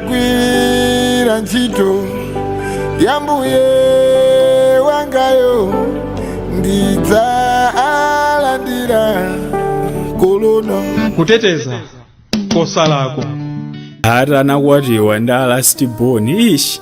kagwira ntchito ya ambuye wangayo ndidzalandira kolona kuteteza kosalakwa ati anakwatiwa ndi alasti boni ishi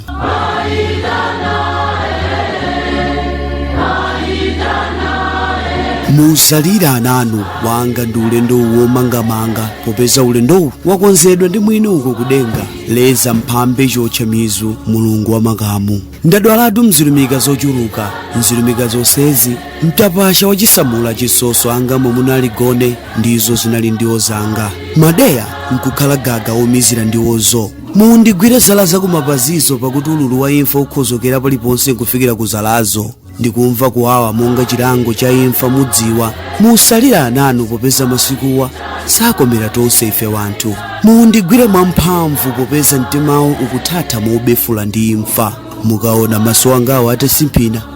musalira ananu wanga ndi ulendo womangamanga popeza ulendowu wakonzedwa ndi mwini uko kudenga leza mphambe chotcha mizu mulungu wa makamu ndadwalatu mzilumika zochuluka mzilumika zonsezi mtapasha wachisamula chisoso anga momunali gone ndizo zinali ndiwo zanga madeya nkukhala gaga omizira ndiwozo mundigwire zala zakumapazizo pakuti ululu wa imfa ukhozokera paliponse nkufikira ku zalazo ndikumva kuwawa monga chilango cha imfa mudziwa musalira ananu popeza masikuwa sakomera tonse ife wanthu mundigwire mwamphamvu popeza mtimawo ukuthatha mobefula ndi imfa mukaona maso angawo atatsimphina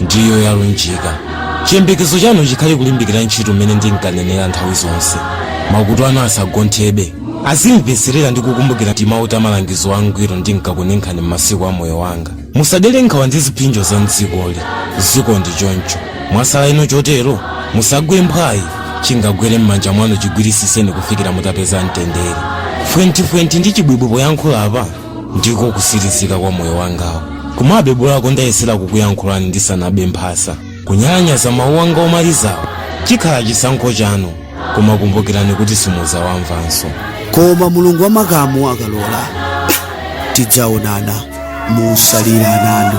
ndiyo yalunjika chiyembekezo chanu chikhale kulimbikira ntchito mmene ndinkanenera nthawi zonse makutu anu asagonthebe azimveserera ndi kukumbukira timawu ta malangizo angwiro ndinkakuninkhani m'masiku a moyo wanga musadere nkhawa ndi ziphinjo za mdzikoli ziko ndi choncho mwasala ino chotero musagwe mphwayi chingagwere m'manja mwanu chigwirisiseni kufikira mutapeza mtendere fwenthi-fwenthi ndi chibwibwi poyankhula apa ndiko kusirizika kwa moyo wangawo komabe bolako ndayesera kukuyankhulani ndisanabe mphasa kunyalanyaza mawu anga omalizawo chikhala chisankho chanu koma kumbukirani kuti simuzawamvanso koma mulungu wa makamu akalola tidzaonana musalira ananu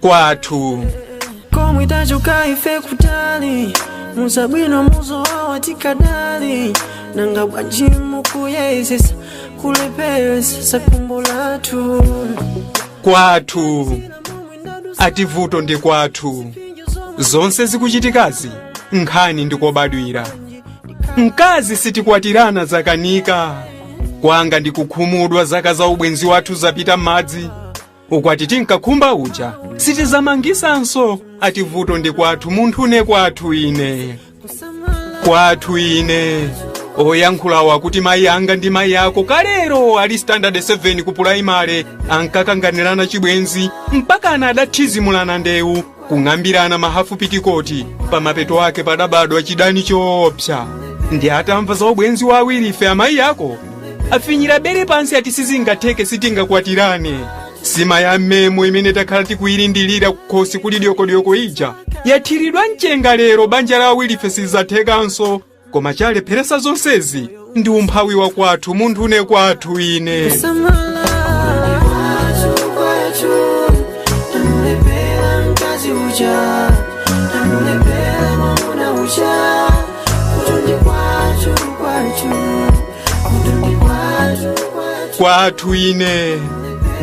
kwathu komwe tachoka ife kutali muzabwino muzowawa tikadali nanga bwanji mukuyezesa kulepheresa tsakumbo lathu kwathu ati vuto ndi kwathu zonse zikuchitikazi nkhani ndikobadwira mkazi sitikwatirana zakanika kwanga ndikukhumudwa zaka za ubwenzi wathu zapita m'madzi ukwati tinkakhumba uja sitizamangisanso ati vuto ndi kwathu munthu ne kwathu ine kwathu ine oyankhulawa akuti mayi anga ndi mayi ako kalero ali standard 7 ku pulayimale ankakanganirana chibwenzi mpaka anadathidzimulana ndewu kung'ambirana mahafu pitikoti pamapeto ake padabadwa chidani choopsa ndi atamva za ubwenzi wa awiri ife amayi ako afinyira bere pansi ati sizingatheke sitingakwatirane sima ya mmemo imene takhala tikuyilindilira kukhosi kuli dyokodyoko ija yathiridwa mchenga lero banja la awirife sizathekanso koma chalepheresa zonsezi ndi umphawi wa kwathu munthune kwathu ine kwathu ine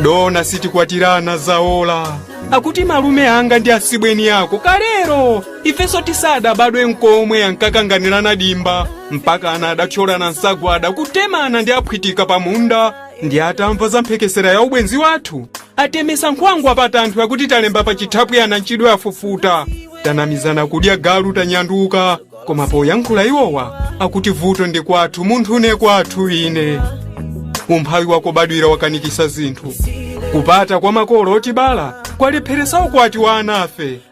dona sitikwatirana zaola akuti malume anga ndi asibweni ako kalero ifenso tisadabadwe nkomwe ankakanganirana dimba mpakana adathyolana nsagwada kutemana ndi aphwitika pa munda ndi atamva za mphekesera ya ubwenzi wathu atemesa nkhwangwa pa tanthu akuti talemba pa chithaphwi anantchidwe afufuta tanamizana kudya galu tanyanduka koma poyankhula iwowa akuti vuto ndi kwathu munthune kwathu ine umphawi wakobadwira wakanikisa zinthu kupata kwa makolo otibala kwalepheresa ukwati wa anafe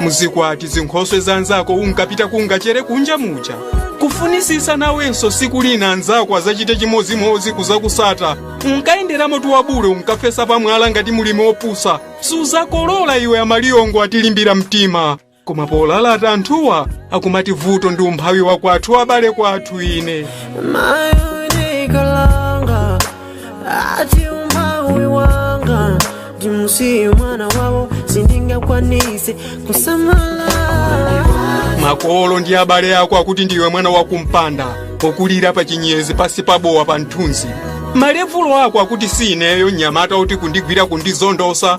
muzikwati zinkhoswe za anzako unkapita kungachere kunja muja kufunisisa nawenso siku lina anzako azachite chimodzimodzi kuzakusata unkayenderamotu wabule unkafesa pamwala ngati mulimi opusa suzakolola iwe amaliyongo atilimbira mtima koma polalata anthuwa akumati vuto ndi umphawi wakwathu abale kwathu ine My ati umphawi wanga ndimusiye mwana wawo sindingakwanise kusamala makolo ndi abale ako akuti ndiwe mwana wakumpanda wokulira pa chinyezi pasi pabowa pa mthunzi malevulo ako akuti si ineyo mnyamata uti kundigwira kundizondosa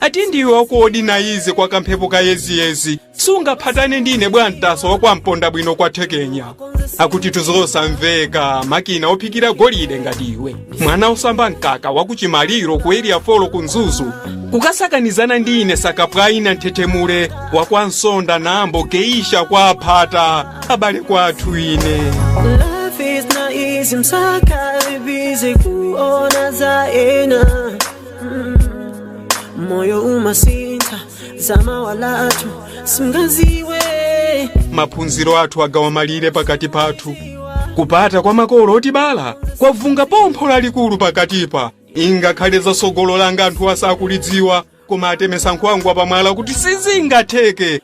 Ati ndiwe waku Old Naisi kwa kamphepo kayeziyezi sungaphatane ndi ine bwantasa wa kwa Mpondabwino kwa thekenya akutitu zosamveka makina ophikira golide ngati iwe mwana osamba mkaka waku Chimaliro ku area 4 ku mzuzu kukasakanizana ndi ine sakapwaina nthetemule wa kwa nsonda nambo geisha kwa aphata abale kwathu ine Life is not easy, msaka busy kuona za ena moyo umasintha za mawa lathu singaziwe maphunziro athu agawa malire pakati pathu kupata kwa makolo otibala kwavunga pompho lalikulu pakatipa ingakhale za tsogolo langa anthu asakulidziwa koma atemesa nkhwangwa pamwala kuti sizingatheke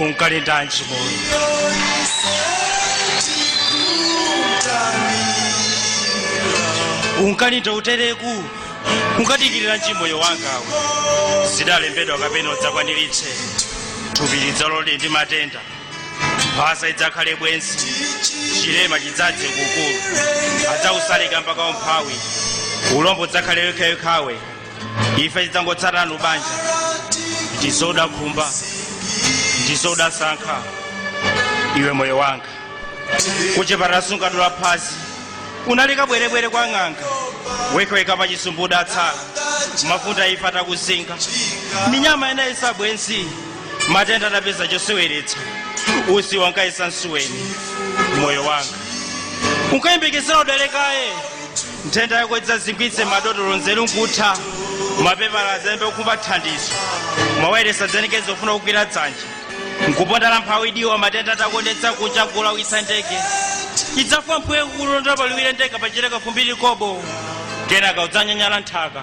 unkalindanji moyo unkalinda utereku unkadikiriranji moyo wangawe zidalembedwa kapena udzakwaniritse thupi lidzalole ndi matenda mphasa idzakhale bwenzi chilema chidzadze kukulu adzakusaleka mpaka umphawi ulombo udzakhale wekhawekhawe ife tidzangotsatana lubanja ndizo udakhumba ndizo udasankha iwe moyo wanga kuchipatala sunkadula phazi unali kabwerebwere kwa ng'anga wekhawekha pa chisumbu udatsala mafunde a imfa atakuzinga minyama inayesa bwenzi matenda adapeza choseweretsa usiwa unkayesa nsuweni moyo wanga unkayembekezera udwale kaye nthenda yako idzazingwitse madotolo nzeru nkutha mapepala adzayambe kukhumba thandizo mawayilesi adzalengeze ofuna kugwira dzanja nkuponda la mphawi diwa matenda atakonetsa kucha kulawitsa ndege idzafa mpweya kukulonda paliwiro ndege pachileka fumbi likobo kenaka udzanyanyala nthaka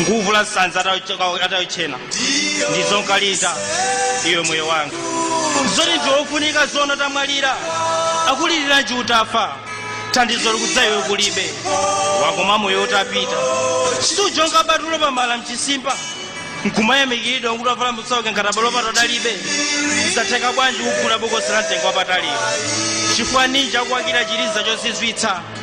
nkuvula sanza atayo- atayochena ndizo unkalinda iwe moyo wanga zoti ndiwofunika zona utamwalira akuliriranji utafa thandizo likudza iwe kulibe wakoma moyo utapita sujonga batulo pamala mchisimba nkumayamikiridwa kuti wavala musauke ngati abalo pato adalibe zatheka bwanji kugula bokosi la mtengo wapatali chifukwa ninji akuwakira chiliza chozizwitsa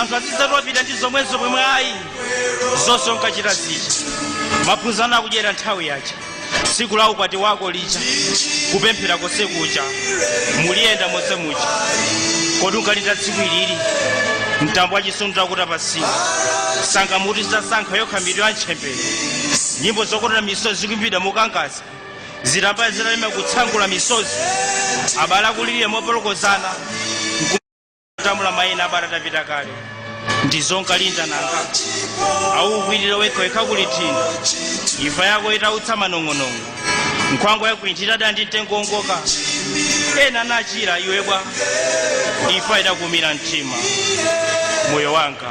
anthu azidzati wapita ndi zomwezo pomwe ayi zonse unkachita zija maphunziro akudyera nthawi yaja tsiku la ukwati wako lija kupemphera konse kuja muliyenda monse muja kodi unkalinda tsiku ilili mtambo wa chisoni utakuta pasiwa sanga muti zitasankha yokha mitu ya ntchembere nyimbo zokotera misozi zikuimbidwa mokangaza zitambaya zitalema kutsangula misozi abale akulirira mopolokozana atamula maina abale atapita kale ndizo unkalinda nanga akukwirire wekhawekha kuli thina imfa yako itautsa manong'onong'o nkhwangwa yakwinthira dandi mtengo woongoka ena anachira iwe bwa imfa idakuumira mtima moyo wanga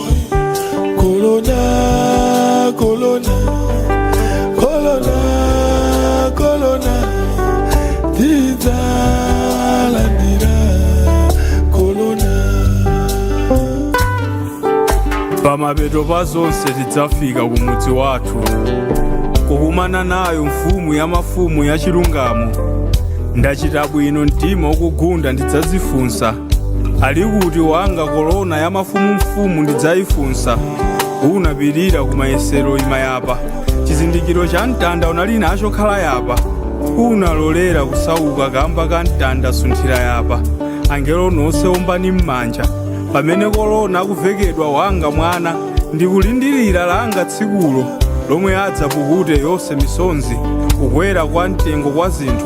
Kolona, kolona, kolona, kolona, tidzalandira, kolona. pamapeto pa zonse tidzafika ku mudzi wathu kukumana nayo mfumu ya mafumu ya chilungamo ndachita bwino mtima ukugunda ndidzadzifunsa ali kuti wanga korona ya mafumumfumu ndidzaifunsa unapirira ku mayesero ima yapa chizindikiro cha mtanda unali nacho khala yapa unalolera kusauka kamba ka mtanda sunthira yapa angelo nonse ombani m'manja pamene korona akuvekedwa wanga mwana ndikulindirira langa tsikulo lomwe adzapukute yonse misonzi kukwera kwa mtengo kwa zinthu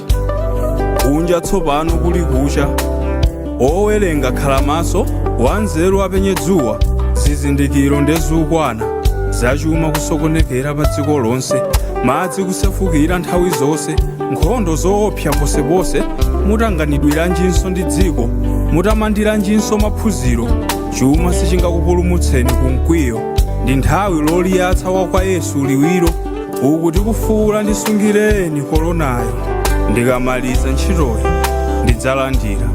kunja tsopano kuli kucha owerenga khala maso wanzeru apenye dzuwa zizindikiro ndezukwana zachuma kusokonekera pa dziko lonse madzi kusefukira nthawi zonse nkhondo zoopsa ponseponse mutanganidwiranjinso ndi dziko mutamandiranjinso maphunziro chuma sichingakupulumutseni ku mkwiyo ndi nthawi loliyatsa wa kwa yesu liwiro uku tikufuula ndisungireni koronayo ndikamaliza ntchitoyi ndidzalandira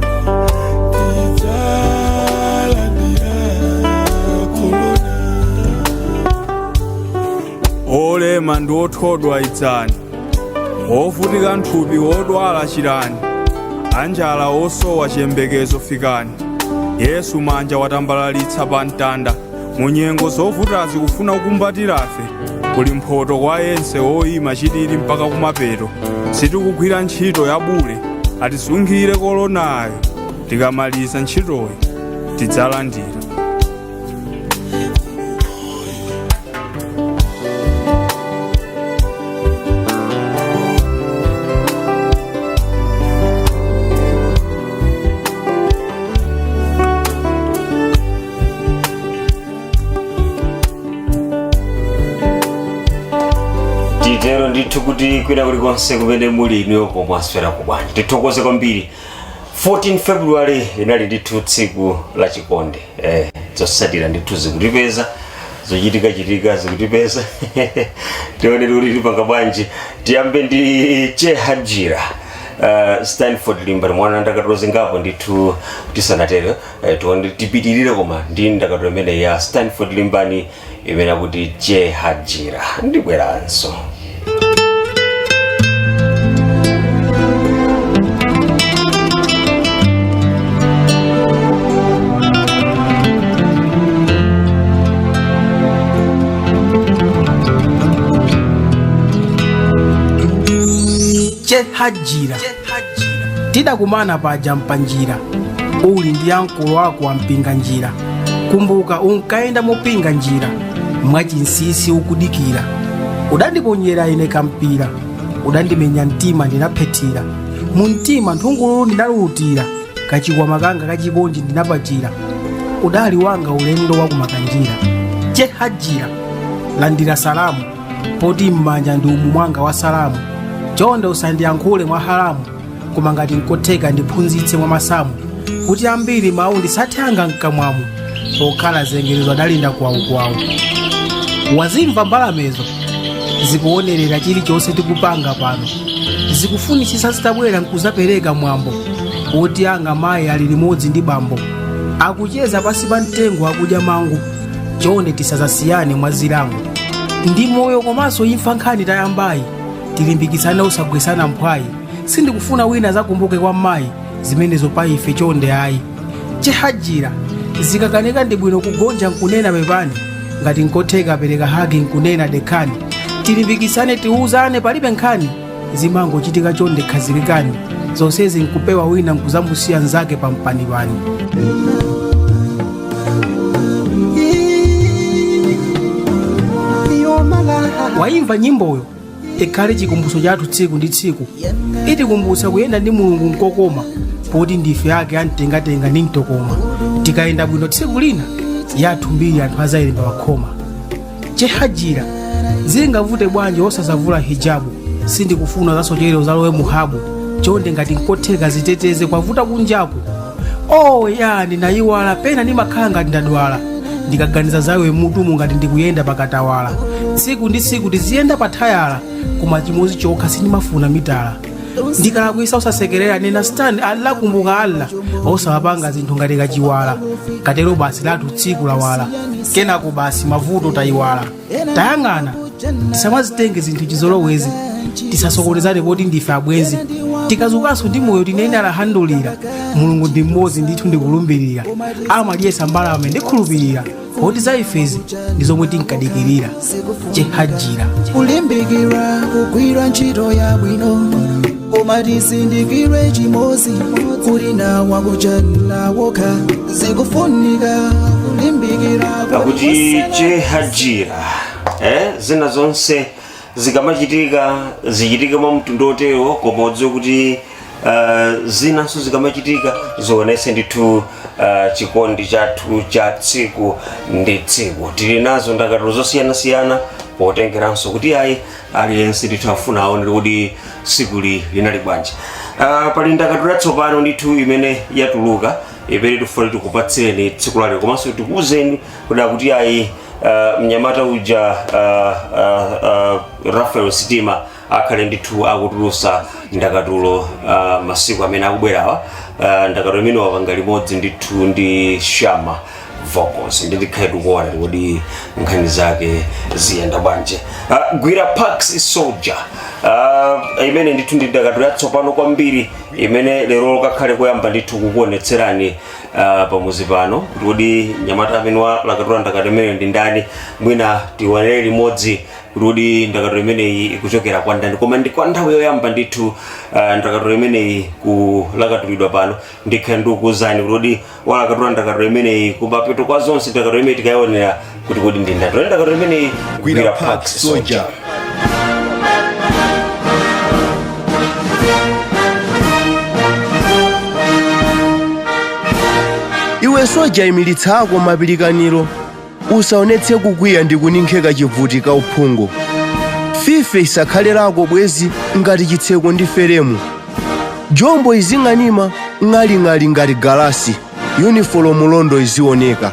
olema ndi othodwa idzani ovutika nthupi odwala chirani anjala osowa chiyembekezo fikani yesu manja watambalitsa pa mtanda mu nyengo zovutazi kufuna kukumbatirafe kuli mphoto kwa yense woyima chilili mpaka kumapeto sitikugwira ntchito yabule atisungire kolonayo tikamaliza ntchitoyi tidzalandira titero ndithu kuti kwina kulikonse kumene muli inuyo pomwe mwaswera bwanji tithokoze kwambiri 14 february inali ndithu tsiku la chikondi eh, zotsatira ndithu zikutipeza zochitikachitika zikutipeza tione kuti tipanga bwanji tiyambe ndi Che Hajira uh, stanford limbani mwa ndakatulo zingapo ndithu tisanatero Eh, tione tipitirire koma ndi ndakatulo imeneyi ya stanford limbani imene akuti Che Hajira ndibweranso Che Hajira. tidakumana paja mpanjira uli ndi ankolo wako wampinga njira kumbuka unkayenda mopinga njira mwachinsisi ukudikira udandiponyera ine kampira udandimenya mtima ndinaphethira mu mtima nthungululu ndinalulutira kachikwama kanga kachikondi ndinapachira udali wanga ulendo wakumakanjira chehajira landira salamu poti m'manja ndi umu mwanga wa salamu chonde usandiyankhule mwa haramu koma ngati nkotheka ndiphunzitse mwa masamu kuti ambiri mawu ndisathe anga mkamwamu pokhala zengerezo adalinda kwawukwawu wazimva mbalamezo zikuonerera chilichonse tikupanga pano zikufunitsitsa zitabwera nkuzapereka mwambo woti anga mayi ali limodzi ndi bambo akucheza pansi pa mtengo akudya mango chonde tisazasiyane mwa zilango ndi moyo komanso imfa nkhani tayambayi tilimbikitsane osagwesana mphwayi sindikufuna wina azakumbuke kwa mayi zimenezo pa ife chonde ayi chehajira zikakanika ndi bwino kugonja nkunena pepani ngati nkotheka pereka hagi nkunena dekhani tilimbikitsane tiuzane palibe nkhani zimangochitika chonde khazikikani zonsezi nkupewa wina nkuzamusiya nzake pampanipani wayimva nyimboyo ikhale chikumbutso chathu tsiku ndi tsiku itikumbutsa kuyenda ndi mulungu nkokoma poti ndife ake amtengatenga ndi mtokoma tikayenda bwino tsiku lina yathu mbiri anthu azayilemba pakhoma chehajira zingavute bwanji osazavula hijabu sindikufuna uzasochere uzalowe muhabu chonde ngati nkotheka ziteteze kwavuta kunjaku oh ya ndinayiwala pena ndimakhala ngati ndadwala ndikaganiza zawe m'mutumu ngati ndikuyenda pakatawala tsiku ndi tsiku tiziyenda pathayala koma chimodzi chokha sindimafuna mitala ndikalakwisa usasekerera nena stand allah kumbuka allah osamapanga zinthu ngati kachiwala katero basi lathu tsiku lawala kenako basi mavuto tayiwala tayang'ana tisamazitenge zinthu chizolowezi tisasokonezane poti ndife abwenzi tikazukanso ndi moyo tinene alhamdulillah mulungu ndi mmodzi ndithu ndikulumbirira amadyetsa mbalame ndikhulupirira poti za ifezi ndi zomwe tinkadikirira chehajira kulimbikira kugwira ntchito yabwino koma tisindikire chimodzi kuli nawa kuchanila wokha zikufunika kulimbikira akuti chehajira eh, zina zonse zikamachitika zichitike mwa mtundu otero koma udziwe kuti uh, zinanso zikamachitika zionese ndithu uh, chikondi chathu cha tsiku ndi tsiku tili nazo ndakatulo zosiyanasiyana potengeranso kuti ayi aliyense ndithu afuna aonere kuti tsikuli linali bwanji uh, pali ndakatulo yatsopano ndithu imene yatuluka imene tifuna tikupatsireni tsiku lalero komanso tikuuzeni kuda kuti ayi uh, mnyamata uja uh, uh, uh, rafael sitima akhale ndithu akutulusa ndakatulo uh, masiku amene akubwerawa uh, ndakatulo imene wapanga limodzi ndithu ndi shammah vocals nde tikhale tikuona kuti nkhani zake ziyenda bwanji uh, gwira pax soldier uh, imene ndithu ndi ndakatulo yatsopano kwambiri imene lero kakhale koyamba ndithu kukuonetserani uh, pamuzi pano kuti kodi mnyamata amene walakatula ndakatulo imeneyo ndi ndani mwina tionere limodzi kuti kodi ndakatulo imeneyi ikuchokera kwa ndani koma ndi kwa nthawi yoyamba ndithu uh, ndakatulo imeneyi kulakatulidwa pano ndikhala ndikukuuzani kuti kodi walakatula ndakatulo imeneyi kumapeto kwa zonse ndakatulo imeneyi tikayionera kuti kodi ndi ndani tione ndakatulo imeneyi gwira park soja iwe soja imilitsa ako mapilikaniro usaonetse kukwiya ndi kuninkheka chivuti ka uphungu fife isakhale lako bwenzi ngati chitseko ndi feremu jombo izing'anima ng'aling'ali ngati galasi yunifolomu londo izioneka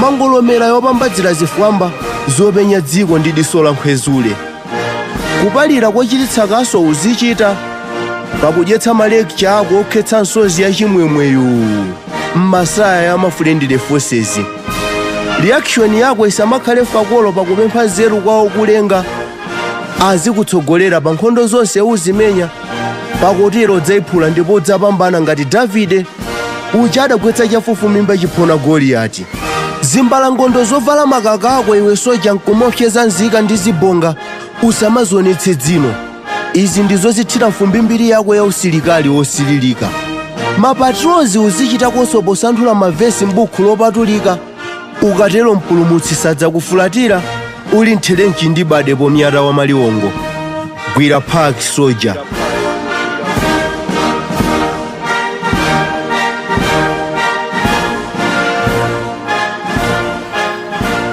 mangolomera yopambadzira zifwamba zopenya dziko ndi diso la nkhwezule kupalira kochititsa kaso uzichita pakudyetsa malekcha ako okhetsa nsozi ya chimwemweyu m'masaya ya ma friendly forces reaction yako isamakhale fakolo pakupempha nzeru kwa okulenga azikutsogolera pa nkhondo zonse uzimenya pakutero udzaiphula ndipo udzapambana ngati davide uja adagwetsa chafufumimba chiphona goliyati zimbalangondo zovala makaka ako iwe soja nkumaopseza nzika ndi zibonga usamazionetse dzino izi ndizo zithira mfumbi mbiri yako ya usilikali wosililika mapatrozi uzichitakonso posanthula mavesi m'buku lopatulika ukatero mpulumutsi sadzakufulatira uli m'therenchi ndi bade pomyata wa maliwongo gwira park soja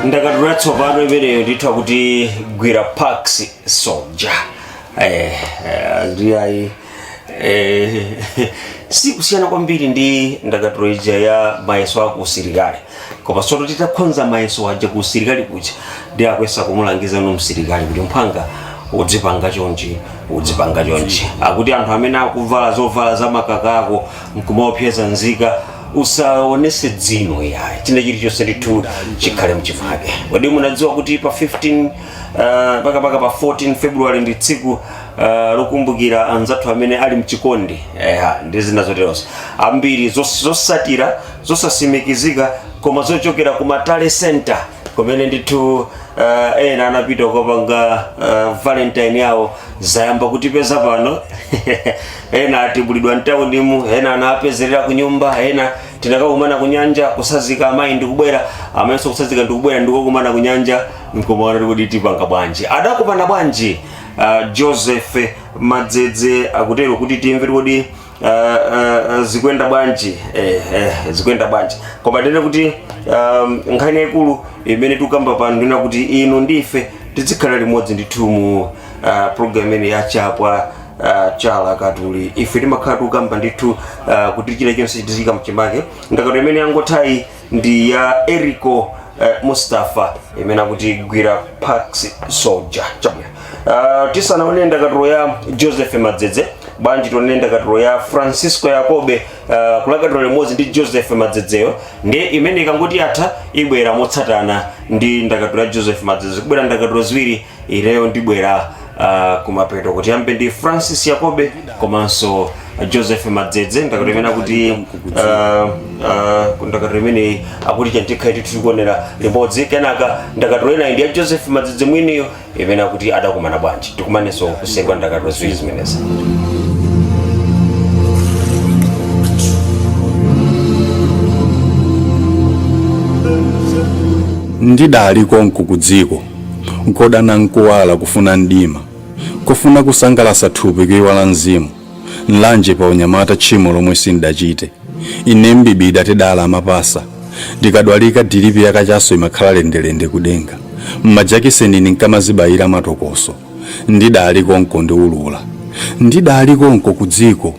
ndakatulo yatsopano imeneyo ndithu akuti gwira pax soja eh, eh, ndiyayi Eh, si kusiyana kwambiri ndi ndakatulo ija ya mayeso a kuusilikali koma soto titakhonza mayeso aja kuusilikali kuja ndiye akuyesa kumulangiza no msilikali kuti mphwanga udzipanga chonchi udzipanga chonchi akuti anthu amene akuvala zovala za makako nkumaopseza nzika usaonese dzino yayi china chilichonse ndithu chikhale mchimake kodi munadziwa kuti pa 15 uh, pakapaka pa 14 february ndi tsiku Uh, lokumbukira anzathu amene ali mchikondi eha ndi zina zoterozo ambiri zos- zosatira zosasimikizika koma zochokera ku ma tally center kumene ndithu uh, ena anapita kukapanga uh, valentine yawo zayamba kutipeza pano ena atibulidwa mtaunimu ena anapezerera ku nyumba ena tinakakumana ku nyanja kusazika amayi ndikubwera amenso kusazika ndikubwera ndikukumana ku nyanja nkumaona kuti tipanga bwanji adakumana bwanji uh, joseph madzedze akutero kuti timve kuti uh, uh, zikuyenda bwanji eh, eh, zikuyenda bwanji koma tinene kuti um, nkhani yaikulu imene tikukamba pano ndi yakuti inu ndife tizikhala limodzi ndithu mu uh, program imene ya chapwa uh, cha alakatuli ife timakhala tikukamba ndithu uh, kuti chilichonse tiziika mchimake ndakatulo imene yangothayi ndi ya erico eh, mustafa imene akuti gwira pax soldier chabwino uh, tisanaone ndakatulo ya joseph madzedze bwanji tionere ndakatulo ya francisco yakobe uh, kulakatula limodzi ndi joseph madzedzeyo ndi imene ikangoti yatha ibwera motsatana ndi ndakatulo ya joseph madzedze kubwera ndakatulo ziwiri ineyo ndibwera uh, kumapeto kuti tiyambe ndi francis yakobe komanso joseph madzedze ndakatulo imene akuti uh, uh, ndakatulo imene akuti chani tikhale ndithu tikuonera limodzi kenaka ndakatulo ina ndi ya joseph madzedze mwiniyo imene akuti adakumana bwanji tikumanenso kuseri kwa ndakatulo ziwiri zimenezi ndidali konko ku dziko Nkodana nkuwala kufuna mdima, kufuna kusangalasa thupi kuiwala mzimu, Nlanje pa unyamata tchimo lomwe sindachite, ine n'bibida tidali amapasa, ndikadwalika dilipi ya kachaso imakhala lendelende ku denga, majakiseni ndinkamazibayila matokoso, ndidali konko ndiulula, ndidali konko kudziko,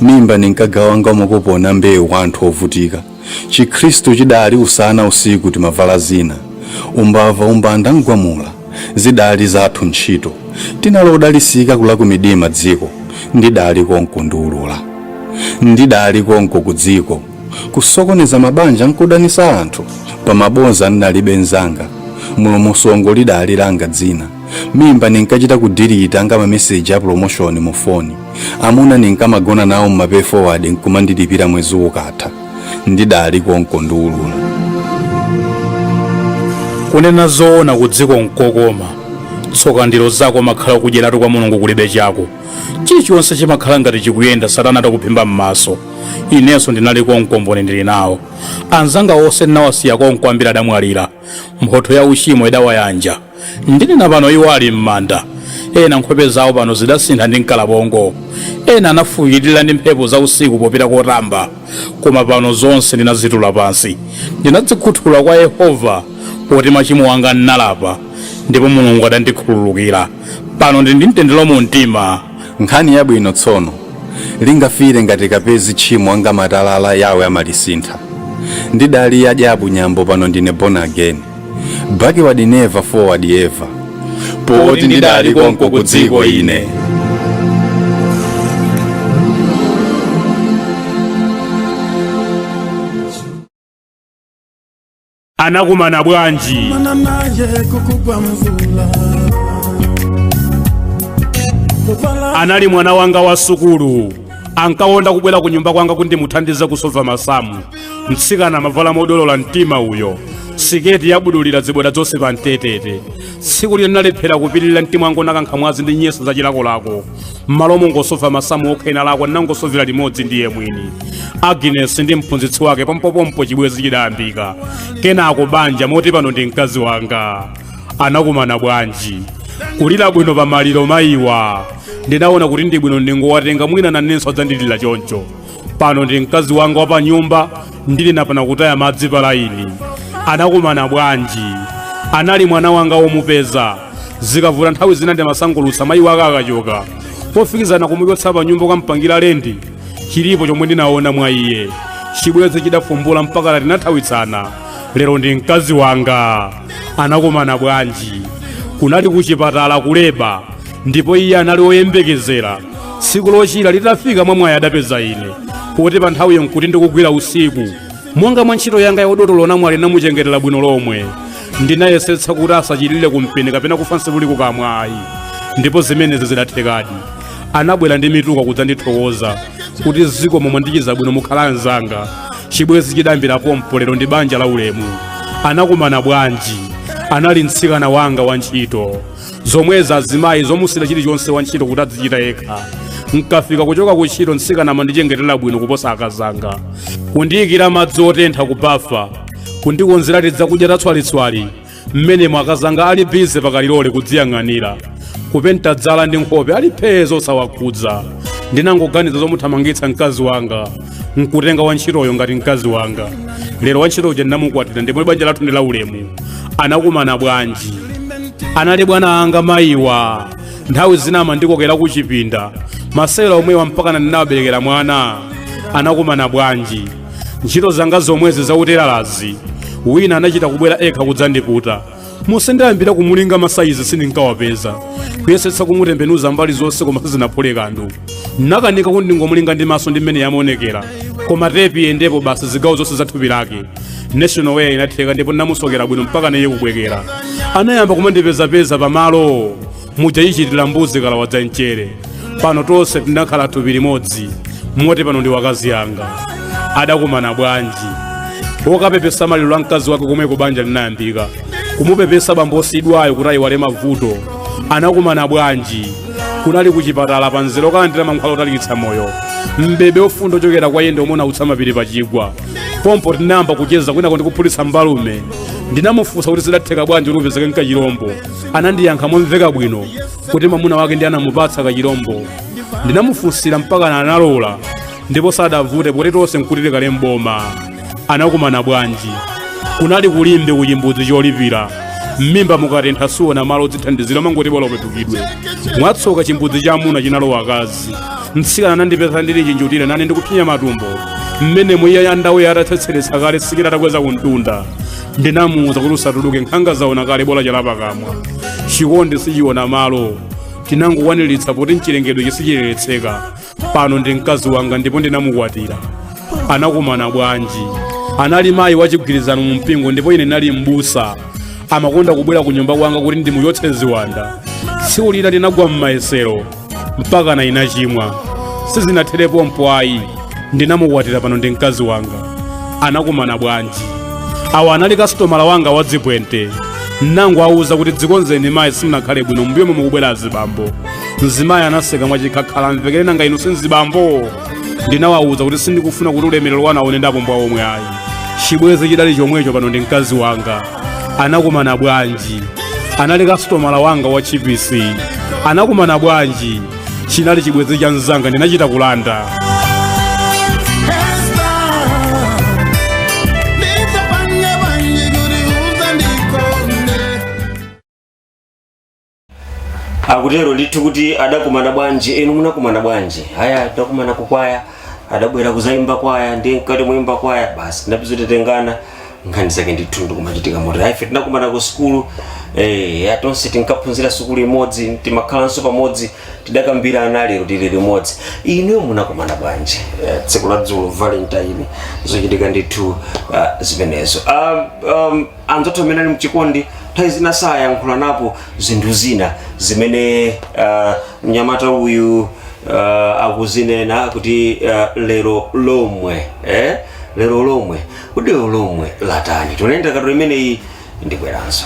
mimba ndinkagawa nga makuponi a mbewu kwa anthu ovutika. chikhristu chidali usana usiku timavala zina umbava umbanda n'gwamula zidali zathu ntchito tinali odalisika kula ku midima dziko ndidali konko ndiulula ndidali konko ku dziko kusokoneza mabanja nkudanisa anthu pamabodza ndinalibe nzanga mulomosongo lidali langa dzina mimba ndinkachita kudirita nga mameseji a promotion mu foni amuna ndinkamagona nawo mmapay forward nkumandilipira mwezi ukatha ndidali konko ndiulula kunena zoona ku dziko nkokoma tsoka ndilo zako makhala kudyeratu kwa mulungu kulibe chako chilichonse chimakhala ngati chikuyenda satana atakuphimba m'maso inenso ndinali konko mboni ndili nawo anzanga onse ndinawasiya konko ambiri adamwalira mphotho ya uchimo idawayanja Ndinena pano iwo ali m'manda. Ena nkhope zawo pano zidasintha ndi mkalabongo. Ena anafuwirira ndi mphepo za usiku popita kotamba. Koma pano zonse ndinazitula pansi. Ndinadzikhuthula kwa Yehova poti machimo anga ndinalapa, ndipo Mulungu adandikhululukira. Pano ndili ndi mtendere mu mtima. Nkhani yabwino tsono. Lingafiire ngati kapezi tchimo nga matalala Yahweh amalisintha. Ndidali ya dyabu nyambo pano ndine born again. Backward never forward ever. Poti ndidali konko ku dziko ine. anakumana bwanji mana naye kukugwa mvula kuvala anali mwana wanga wa sukulu ankakonda kubwera ku nyumba kwanga kuti ndimuthandize kusova masamu mtsikana amavala modolola mtima uyo siketi yabudulira ziboda zonse pa mtetete tsiku lina ndinalephera kupirira mtima wanga unakankha mwazi ndi nyesi za chilakolako m'malo mongosova masamu okha ena lako ndinangosovera limodzi ndi iye mwini agnes ndi mphunzitsi wake pompopompo chibwezi chidayambika kenako banja moti pano ndi mkazi wanga anakumana bwanji kulira bwino pa maliro mayiwa ndinaona kuti ndi bwino ndingowatenga mwina nanenso adzandilira choncho pano ndi mkazi wanga wa pa nyumba ndili napana kutaya madzi pa laini anakumana bwanji anali mwana wanga womupeza zikavuta nthawi zina ndimasangulutsa mayi wake akachoka pofikizana kumuchotsa pa nyumba kukampangira lendi chilipo chomwe ndinaona mwa iye chibwenzi chidafumbula mpakana tinathawitsana lero ndi mkazi wanga anakumana bwanji kunali kuchipatala kuleba ndipo iye anali woyembekezera tsiku lochira litafika mwa mwayi adapeza ine poti pa nthawiyo nkuti ndikugwira usiku monga mwa ntchito yanga ya udotolo namwali ndinamuchengetera bwino lomwe ndinayesetsa kuti asachilire kumpeni kapena kufa nsibuli kukamwa ayi ndipo zimenezi zidathekadi anabwera ndi mituka kudzandithokoza kuti zikomo mwandichiza bwino mukhala anzanga chibwezi chidayambira pompo lero ndi banja la ulemu anakumana bwanji anali mtsikana wanga wa ntchito zomwezi azimayi zomusiira chilichonse wa ntchito kuti adzichita yekha nkafika kuchoka ku ntchito mtsikana amandichengetera bwino kuposa akazanga kundiyikira madzi otentha kubafa kundikonzera tidzakudya tatswalitswali mmenemo akazanga ali bize pakalilole kudziyang'anira kupenta dzala ndi nkhope ali phee zosawakhudza ndinangoganiza zomuthamangitsa mkazi wanga nkutenga wantchitoyo ngati mkazi wanga lero wantchito uja ndinamukwatira ndipo banja lathu ndi laulemu anakumana bwanji anali bwana anga mayiwa nthawi zina amandikokera ku chipinda masewera omwewa mpakana ndinawaberekera mwana anakumana bwanji ntchito zanga zomwezi zauteralazi wina anachita kubwera yekha kudzandiputa monse ndayambira kumulinga masayizi sindinkawapeza kuyesetsa kumutembenuza mbali zonse koma sizinaphule kanthu nakanika kuti ndingomulinga ndi maso ndi mmene amaonekera koma tepi iyendepo basi zigawo zonse za thupi lake national wear inatheka ndipo ndinamusokera bwino mpaka naye kubwekera anayamba kumandipezapeza pamalo muja ichitira mbuzi ikalawa za mchere pano tonse tinakhala thupi limodzi moti pano ndi akazi anga adakumana bwanji kokapepesa maliro a mkazi wake komweko banja linayambika kumupepesa bambo osiyidwayo kuti ayiwale mavuto anakumana bwanji kunali kuchipatala pa mzere wokalandira mankhwala otalikitsa moyo mpweya wofunda wochokera kwa iye ndi omwe unautsa mapiri pachigwa pompo tinayamba kucheza kwinako ndikuphulitsa mbalume ndinamufunsa kuti zidatheka bwanji kuti upezeke nkachilombo anandiyankha momveka bwino kuti mwamuna wake ndi anamupatsa kachilombo ndinamufunsira mpaka analola ndipo sadavute poti tonse nkuti tili kale mboma anakumana bwanji kunali ku limbe kuchimbudzi cholipira mmimba mukatentha suona malo odzithandizira umangoti bola upepukidwe mwatsoka chimbudzi cha amuna chinalowa akazi mtsikana anandipeza ndili chinjutire nane ndikupsinya matumbo mmenemo iye andaweya atatsetseretsa kale siketi atakweza kumtunda ndinamuwuza kuti usatuluke nkhanga zaona kale bola chala pakamwa chikondi sichiona malo tinangokwaniritsa poti mchilengedwechi sichiletseka pano ndi mkazi wanga ndipo ndinamukwatira anakumana bwanji anali mayi wachigwirizano mu mpingo ndipo ine ndinali m'busa amakonda kubwera ku nyumba kwanga kuti ndimuchotse ziwanda tsiku lina ndinagwa m'mayesero mpakana ndinachimwa sizinathere pompo ayi ndinamukwatira pano ndi mkazi wanga anakumana bwanji awa anali kasitomala wanga wa dzibwente nangowawuza kuti dzikonzeni mayi simunakhale bwino mbuyomo mukubwera azibambo mzimayi anaseka mwachikhakhali amvekere nanga inu si nzibambo ndinawawuza kuti sindikufuna kuti ulemerero wanu aone ndi apumbwa omwe ayi chibwezi chidali chomwecho pano ndi mkazi wanga anakumana bwanji anali kasitomala wanga wa chipisi anakumana bwanji chinali chibwenzi cha mzanga ndinachita kulanda akutero ndithu kuti adakumana bwanji inu munakumana bwanji ayi tinakumana kukwaya adabwera kuzayimba kwaya ndi mkati muyimba kwaya basi tinapita titengana nkhani zake ndithu ndikumachitika moti ayi ife tinakumana ku sukulu eh, atonse tinkaphunzira sukulu imodzi timakhalanso pamodzi tidakambirana lero tili limodzi inuyo munakumana bwanji eh, tsiku la dzulo valentine zochitika ndithu ah, zimenezo um, um, anzathu amene ali mchikondi nthawi zina sayankhulanapo zinthu zina zimene uh, mnyamata uyu uh, akuzinena kuti uh, lero lomwe eh? lero lomwe lero lomwe latani tione ndakatulo imeneyi ndibweranso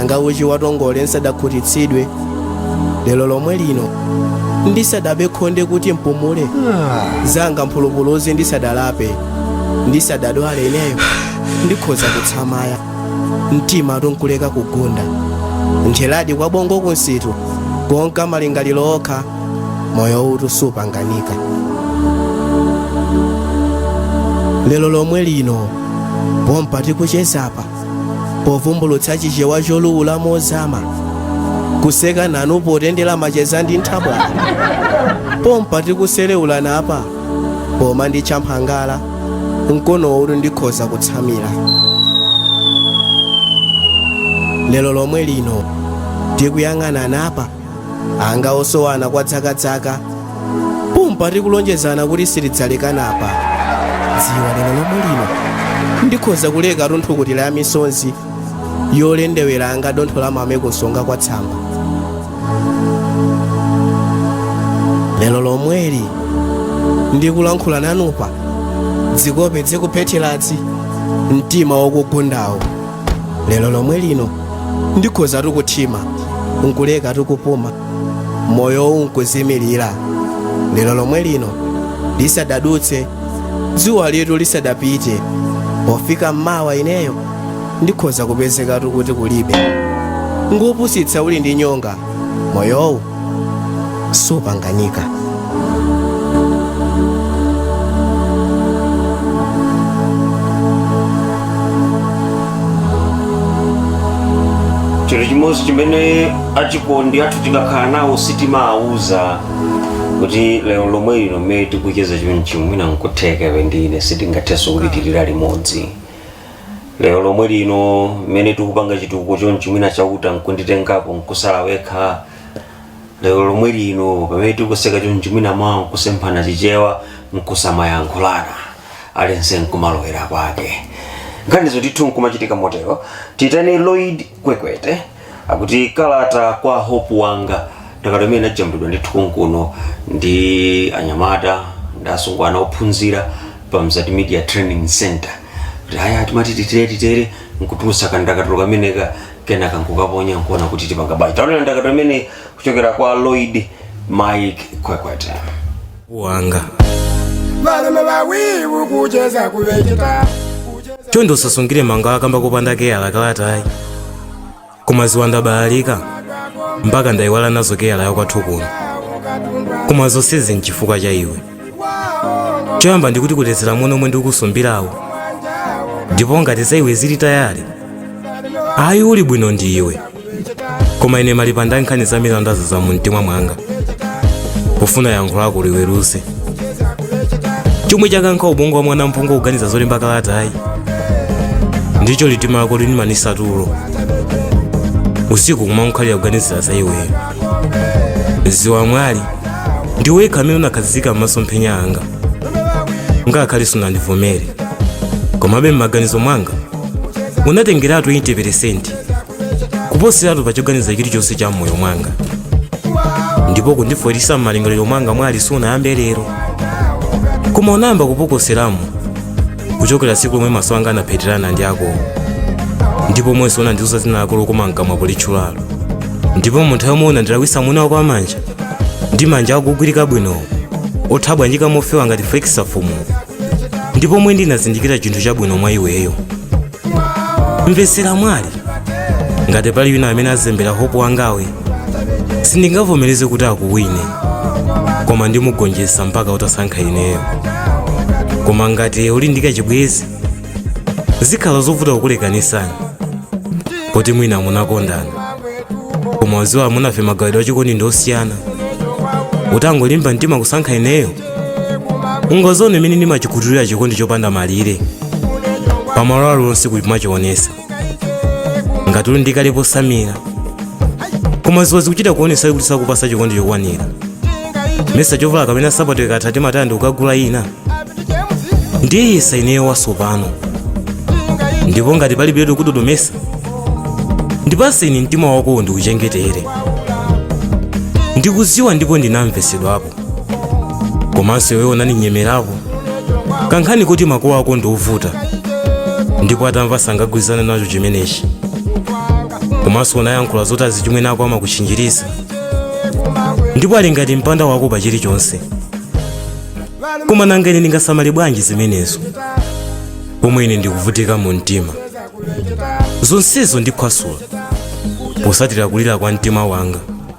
anga uchi wa tongole nsadakhutitsidwe lero lomwe lino ndisadabe khonde kuti mpumule zanga mphulupuluzi ndisadalape ndisadadwale ineyo ndikhoza kutsamaya mtimatu nkuleka kugunda ntheradi kwa bongo kumsitu konka malingaliro okha moyowutu supanganika lero lomwe lino pompa tikuchezapa povumbulutsa chichewa choluwula mozama kuseka nanu potendera macheza ndi nthabwala pompa tikuselewulanapa poma ndi champhangala mkonowutu ndikhoza kutsamira lero lomwe lino tikuyang'ananapa anga osowana kwa dzakadzaka pompa tikulonjezana kuti sitidzalekanapa dziwa lero lomwe lino ndikhoza kulekatu nthukutira ya misonzi yolendewera anga dontho la mame kunsonga kwa tsamba lero lomweli ndikulankhula nanupa dzikope dzikuphetheradzi mtima ukugundawu lero lomwe lino ndikhozatu kuthima nkulekatu kupuma moyowu nkuzimirira lero lomwe lino lisadadutse dzuwalitu lisadapite pofika mmawa ineyo ndikhoza kupezekatu kuti kulibe ngopusitsa uli ndi nyonga moyowu supanganika chinthu chimodzi chimene achikondi athu tikakhala nawo sitimawauza kuti lero lomwe lino mmene tikucheza chonchi mwina nkutheka iwe ndi ine sitingathenso kulitsiriza limodzi lero lomwe lino mmene tikupanga chitukuko chonchi mwina chauta nkunditengapo nkutsala wekha lero lomwe lino pamene tikuseka chonchi mwina mawa nkusemphana chichewa nkusamayankhulana aliyense nkumalowera kwake nkhanizo ndithu nkumachitika motero titani lloyd kwekwete akuti kalata kwa hope wanga ndakatulo imene inajambulidwa ndithu kunkuno ndi anyamata ndi asungwana ophunzira pa Mzati media training center kuti aya timati titere titere nkutulutsa kandakatulo kameneka kenaka nkukaponya nkuona kuti tipanga bwanji taonera ndakatulo imene kuchokera kwa lloyd mike kwekwete wanga varume vawivu kucheza kuveketa chonde usasungire mangawa kamba kopanda keyala kalatayi koma dziwa ndabalalika mpaka ndayiwala nazo keyala yakwathu kuno koma zonsezi nchifukwa cha iwe choyamba ndikuti kutengera momwe ndikukusumbiramo ndipo ngati za iwe zili tayale ayi uli bwino ndi iwe koma ine malipanda nkhani zamilandamilanda za mumtima mwanga kufuna yankho lako liweruze chomwe chakankha ubongo wa mwana mphongo kuganiza zolemba kalatayi ndicho litima lako lindimanitsa tulo usiku kumakhalira kuganizira za iweyo dziwa mwali ndiwe wekha amene unakhazikika m'masomphenya anga ngakhale sunandivomere komabe m'maganizo mwanga unatengeratu 80 kuposeratu pa choganiza chilichonse cha m'moyo mwanga ndipo kundifotsera m'malingaliro mwanga mwali sunayambe lero koma unayamba kupokoseramo kuchokera tsiku lomwe maso anga anapheterana ndi akowo ndi pomwenso unandiuza dzina lako lokoma mkamwa politchulalo ndipo mu nthawi yomwe unandilawitsa moni wako wamanja ndi manja akugwirika bwinowo otabwanyika mofewa ngati flekisafumu ndi pomwe ndinazindikira chinthu chabwino mwa iweyo mvetsera mwali ngati pali wina amene akuzembera hope wangawe sindingavomereze kuti akuwine koma ndimugonjetsa mpaka utasankha ineyo koma ngati uli ndi kachibwezi zikhala zovuta kukulekanisani poti mwina munakondana koma udziwa amunafe magawidwe achikondi ndi osiyana utangolimba mtima kusankha ineyo ungadzaone mmene ndimachikhuthulira chikondi chopanda malire pamalo alonse kumachionetsa ngati uli naye kale posamira koma dziwa zikuchita kuonetsa kuti sakupatsa chikondi chokwanira mesa chovala kapena sapato ikatha timataya ndikukagula ina ndiye yesa ineyo wasopano ndipo ngati palibiretu usadodome ndipatse ine mtima wako ndikuchengetere ndikudziwa ndipo ndinamvetsedwapo komanso iweyo unandinyemerako kankhani kuti makolo ako ndi ovuta ndipo atamva sangagwirizane nacho chimenechi komanso unayankhula zoti azichimwene ako amakuchinjiriza ndipo ali ngati mpanda wako pa chilichonse koma nanga ine ndingasamale bwanji zimenezo pomwe ine ndikuvutika mu mtima zonsezo ndiphwasula potsatira kulira kwa mtima wanga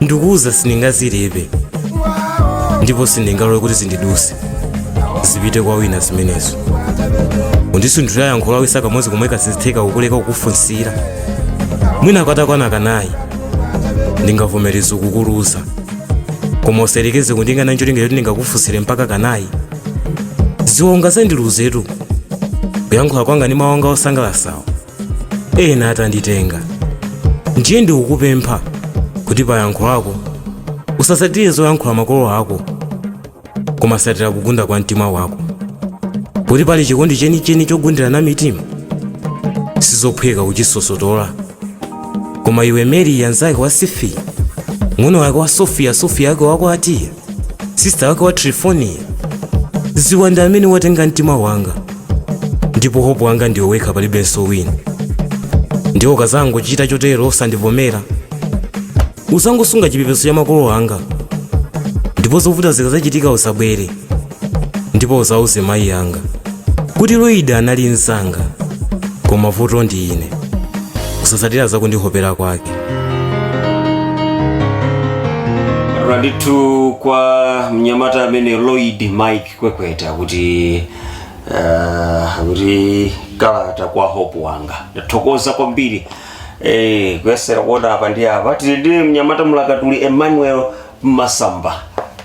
ndikuwuza sindingazilepe ndipo sindingalole kuti zindiduse zipite kwa wina zimenezo undisunthira yankhulo isa kamodzi komwe sizitheka kukuleka kukufunsira mwina katakwana kanayi ndingavomereza kukuluza koma usayerekeze kundikana ncholinga choti ndingakufunsire mpaka kanayi ziona zandiluzetu kuyankhula kwanga ndi mawu anga osangalasawo ena atanditenga ndiye ndikukupempha kuti payankho lako usasatire zoyankhula makolo ako koma satira kugunda kwa mtima wako kuti pali chikondi chenicheni chogundirana mitima sizophweka kuchisosotola koma iwe mary mnzake wa sifi ng'ono wake wa sofiya sofiya yake wako atiya sista wake wa trifoniya ziwa ndiwe amene watenga mtima wanga ndipo hope wanga ndiwe wekha palibenso wina ndipo ukazangochita chotero osandivomera uzangosunga chipepeso cha makolo anga ndipo zovuta zikazachitika usabwere ndipo uzauze mayi anga kuti lloyd anali mnzanga koma vuto ndi ine kusasatira zakundihopera kwake nandithu kwa mnyamata amene lloyd mike kwekweta kuti uh, kuti kalata kwa hope wanga ndathokoza kwambiri eh, kuyesera kuona apa ndi apa tili ndi mnyamata mulakatuli emmanuel masamba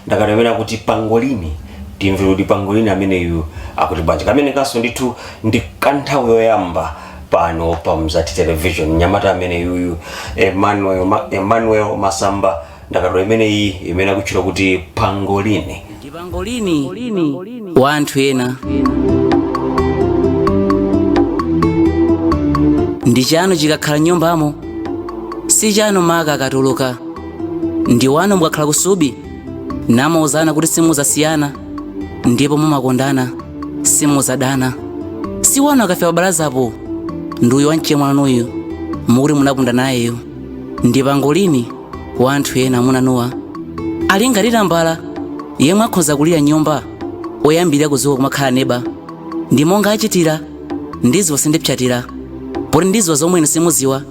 ndakatulo imene akuti pangolini timve kuti pangolini ameneyu akuti bwanji kameneka kanso ndithu ndi kanthawi yoyamba pano pa mzati television mnyamata ameneyuyu emmanuel, Ma- emmanuel masamba ndakatulo imeneyi imene akutchula kuti pangolini pangolini wa anthu ena ndi chanu chikakhala nyumbamo si chanu maka akatuluka ndi wanu mukakhala kusubi namauzana kuti simuzasiyana ndipo mumakondana simuzadana si wanu akafika pabalazapo ndi uyu wamchemwanuyu mukuti munapunda nayeyo ndi pangolini wa anthu ena amunanuwa ali ngati tambala yemwe akhoza kulira mnyumba oyambirira kuzuka kumakhala neba ndi monga achitira ndiziwa sindipsatira poti ndiziwa zomwe inu simuziwa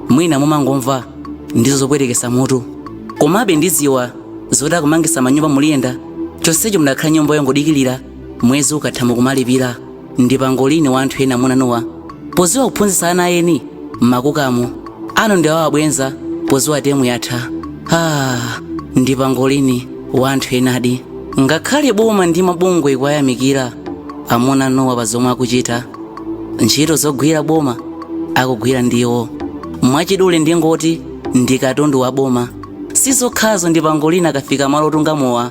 mwina mumangomva ndizo zopwetekesa mutu komabe ndiziwa zoti akumangisa manyumba muliyenda chonsecho mudakhala nyumba yongodikilira mwezi ukatha mukumalipira ndi pangolini wa anthu ena amunanuwa poziwa kuphunzitsa ana eni mmakukamo anu ndi awa abwenza poziwa temu yatha ah, ndi pangolini wa anthu enadi ngakhale boma ndi mabungwe kuwayamikira amunanuwa pa zomwe akuchita ntchito zogwira boma akugwira ndiwo mwachidule ndingoti ndi katundu wa boma sizokhazo ndi pangolini akafika malo otunga mowa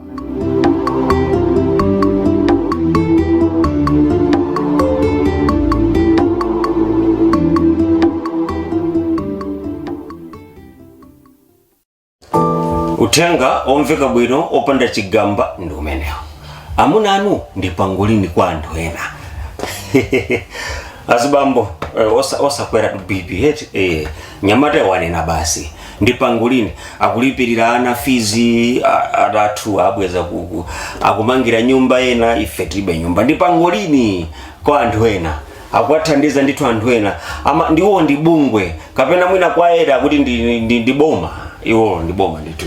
uthenga omveka bwino opanda chigamba ndi umenewo amuna anu ndi pangolini kwa anthu ena azibambo eh, osa- osakweratu bp eti eh, nyamata wanena basi ndi pangolini akulipirira ana fizi a- athu abweza uku akumangira nyumba ena ife tilibe nyumba ndi pangolini kwa anthu ena akuwathandiza ndithu anthu ena ama ndiwo ndi bungwe kapena mwina kwa ena akuti ndi, ndi, ndi, ndi boma iwo ndi boma ndithu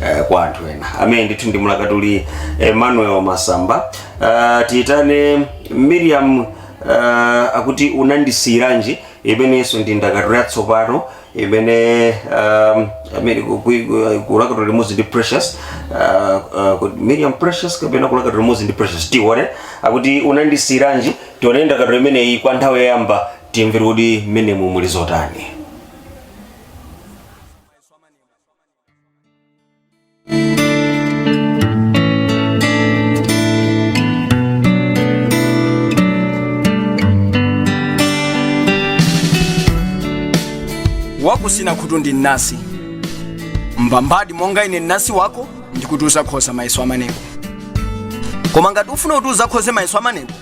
eh, kwa anthu ena amene ndithu ndi mlakatuli emmanuel masamba uh, tiyitane miriam uh, akuti unandisiyiranji imenenso ndi ndakatulo yatsopano imene um, amene ku- ku- ku- kulakatula limodzi ndi precious uh, uh, miriam precious kapena kulakatula limodzi ndi precious tione akuti unandisiyiranji tione ndakatulo imeneyi kwa nthawi yoyamba timvere kuti mmenemu muli zotani wakusina khutu ndi mnasi mbambadi monga ine mnasi wako ndikuti uzakhoza mayeso amanebo koma ngati ufuna kuti uzakhoze mayeso amanebo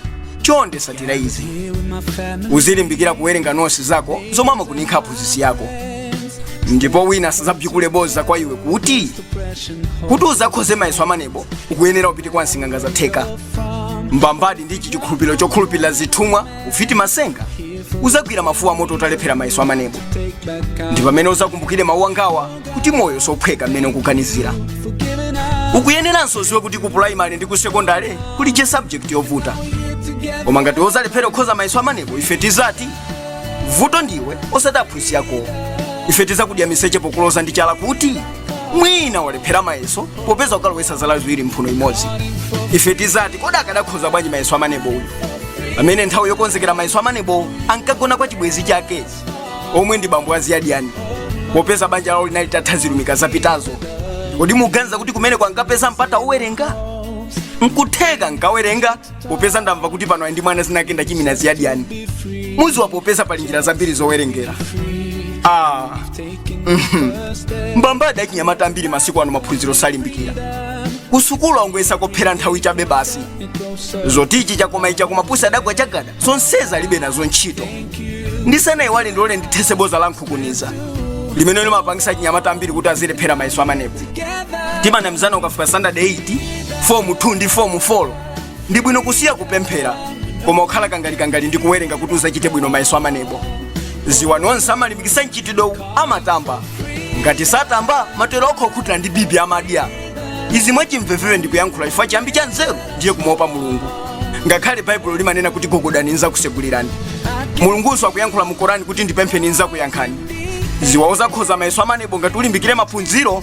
chonde satira izi uzilimbikira kuwerenga nosi zako zomwe amakuninkha aphunzitsi ako ndipo wina asadzabzikule boza kwa iwe kuti kuti uzakhoze mayeso amanebo ukuyenera upite kwa nsing'anga zatheka mbambadi ndi ichi chikhulupiriro chokhulupirira zithumwa ufiti masenga uzagwira mafuwa amoto utalephera mayeso amanebo ndi pamene uzakumbukire mawu angawa kuti moyo sophweka mmene ukuganizira ukuyeneranso uziwe kuti ku primary ndi ku secondary kulije subject yovuta koma ngati uzalephera kukhoza mayeso amanebo ife tizati vuto ndiwe osati aphunzitsi akowo ife tizakudya miseche pokuloza ndi chala kuti mwina walephera mayeso popeza ukalowesa zala ziwiri mphuno imodzi ife tizati kodi akadakhoza bwanji mayeso a maneb uyu amene nthawi yokonzekera mayeso a maneb ankagona kwa chibwenzi chake omwe ndi bambo aziyadiyani popeza banja lawo linali tatha zirumika zapitazo kodi muganiza kuti kumeneko ankapeza mpata owerenga nkutheka ankawerenga popeza ndamva kuti pano ali ndi mwana zina lake ndi chimina ziyadiyani muziwa popeza pali njira zambiri zowerengera ah. mhm. mbambadi achinyamata ambiri masiku ano maphunziro salimbikira kusukulu angoyesa kophera nthawi chabe basi zoti ichi chakoma icho chakoma pusi adagwa chagada zonsezi alibe nazo ntchito ndisanayiwale ndilole ndithese boza la nkunkhuniza limene limapangisa achinyamata ambiri kuti azilephera mayeso a maneb timanamizana ukafika standard 8 fomu 2 ndi fomu 4 ndi bwino kusiya kupemphera koma ukhale kangalikangali ndi kuwerenga kuti uzachite bwino mayeso a maneb ziwa onse amalimbikitsa mchitidwewu amatamba ngati satamba matero okha okhutira ndi bibi amadya izi mwachimvevere ndikuyankhula chifukwa chiyambi cha nzeru ndiye kumaopa mulungu ngakhale baibulo limanena kuti gogodani nzakusegulirani mulungunso akuyankhula mu korani kuti ndipempheni nzakuyankhani ziwa uzakhoza mayeso a maneb ngati ulimbikire maphunziro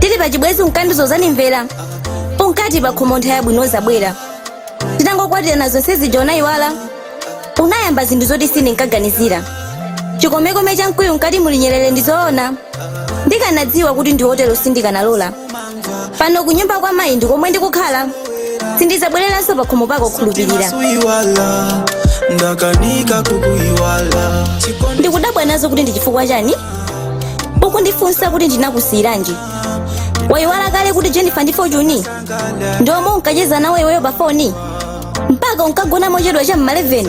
tili pa chibwezi unkandizuza nimvera unkati pa khomo nthawi yabwino izabwera tinangokwatirana zonse zija unayiwala unayamba zinthu zoti sindinkaganizira chikomekome cha mkuyu mkati muli nyerere ndi zoona ndikanadziwa kuti ndiwe otero sindikanalola pano kunyumba kwa mayi ndi komwe ndikukhala sindizabwereranso pa khomo pako khulupirira ndakanika kukuiwala ndikudabwa nazo kuti ndi chifukwa chani ukundifunsa kuti ndinakusiyiranji wayiwala kale kuti jennifer ndi fortune ndi omwe unkacheza nawo iweyo pa foni mpaka unkagona mochedwa cha m'ma 11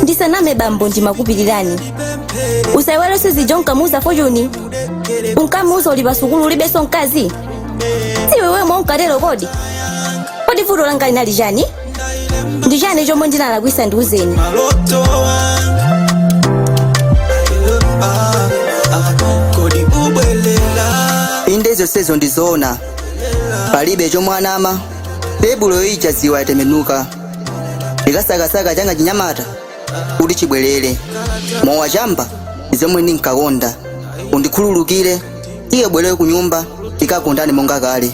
ndisaname bambo ndimakupirirani usayiwale zija unkamuuza fortune unkamuuza uli pa sukulu ulibenso mkazi si iwe wemwe unkatero kodi kodi vuto langa linali chani ndi chani chomwe ndinalakwisa ndiuzeni malo to wanga Ah, ah, kodi ubwelela inde zonsezo ndizoona palibe chomwe wanama tebulo ija ziwa yatembenuka nkasakasaka changa chinyamata kuti chibwerere mowa chamba ndizomwe ndinkakonda undikhululukire tiye ubwerere ku nyumba tikakondane monga kale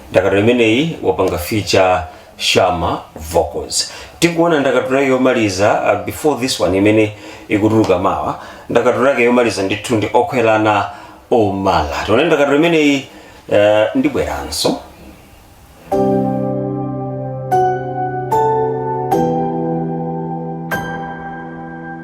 ndakatulo imeneyi wapanga feature shama vocals tikuona ndakatulo yake yomaliza uh, before this one imene ikutuluka mawa ndakatulo yake yomaliza ndithu ndi okhwelana omala tione ndakatulo imeneyi uh, ndibweranso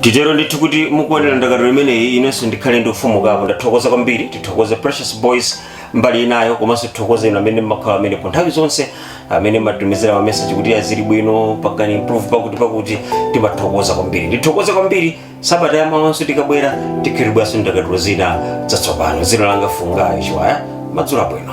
titero ndithu kuti mukuonera ndakatulo imeneyi inenso ndikhale ndikufumukapo ndathokoza kwambiri tithokoze precious boys mbali inayo komanso tithokoze inu amene mmakhala amenepo nthawi zonse amene mmatumizira mameseji kuti a zili bwino pangani improve pakuti pakuti timathokoza kwambiri ndithokoze kwambiri sabata yamawanso tikabwera tikhiribwanso ndakatulo zina zatsopano dzina langa fungayo chiwaya madzulo abwino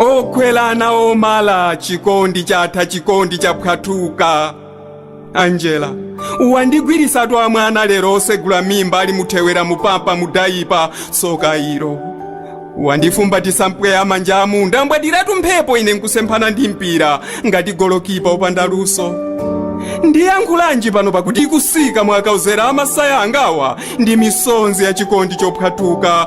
okwelana omala chikondi chatha chikondi chaphwathuka angela wandigwirisa twa mwana lero osegula mmimba ali muthewera mupampa mudayipa soka ilo wandifumbatisa mpweya manja amu ndambwandiratu mphepo ine nkusemphana ndi mpira ngati golokipa opanda luso ndiyankhulanji pano pakuti ikusika mwakauzera amasaya angawa ndi misonzi ya chikondi chophwathuka